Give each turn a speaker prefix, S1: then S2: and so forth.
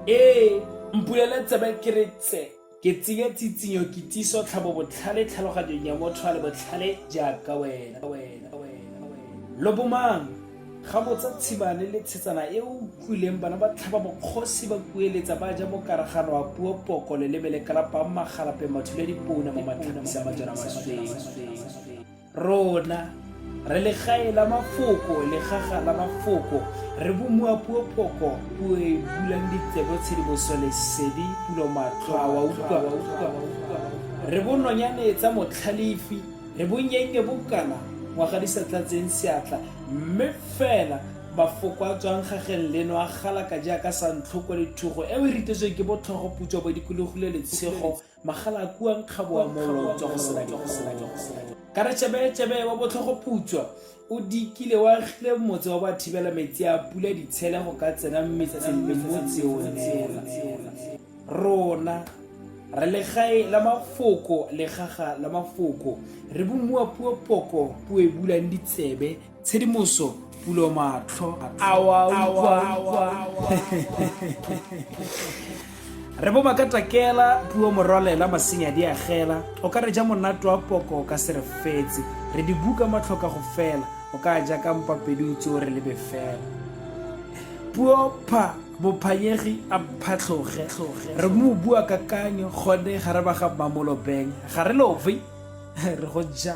S1: ee mpulele tsebe ke re tse ke tsenye tsitsinyo ke tiso tlhabo botlhale tlhaloganyong ya motho a le botlhale jaaka wena lobomang ga botsa tshibane le tshetsana e o utlwileng bana ba tlhaba bokgosi ba kueletsa ba ja mokaragano wa puo poko leleme le kalapang magalape mathuledi pouna mo matlhabisa majana masweng Rona, re legae la mafoko, legaga la mafoko, re bomoa puo phoko, puo e bulang ditsebo tshedimoso lesedi, pulo matlho a wa utlwa, re bononyane tsa motlhalefi, re bonyennye bokana ngwaga di sa tlatseng seatla, mme fela mafoko a tswang gageng leno a galaka jaaka santlhoko le thugo eo e ritetsweng ke botlhogoputswa bo dikologile letshego magalakua nkgabo wa molo tswa go sela dikgola ka re tšebetšebe wa botlhogoputswa o dikile wa agile motse wa bathibela metsi a pula ditshele go ka tsena metseng le motse o neela rona re legae la mafoko legaga la mafoko re bomuwa puo poko puo e bulang ditsebe tshedimoso pulo matlho re bo ba ka takela puo morwalela masenya di agela o ka re ja monate wa poko o ka se re fetse re di buka matlhoka go fela o ka ja ka mpapedi o tse o re lebe fela puo pha bophanyegi a phatlhoge re mo bua kakanyo gone ga re ba ga mmamolobeng ga re love re go ja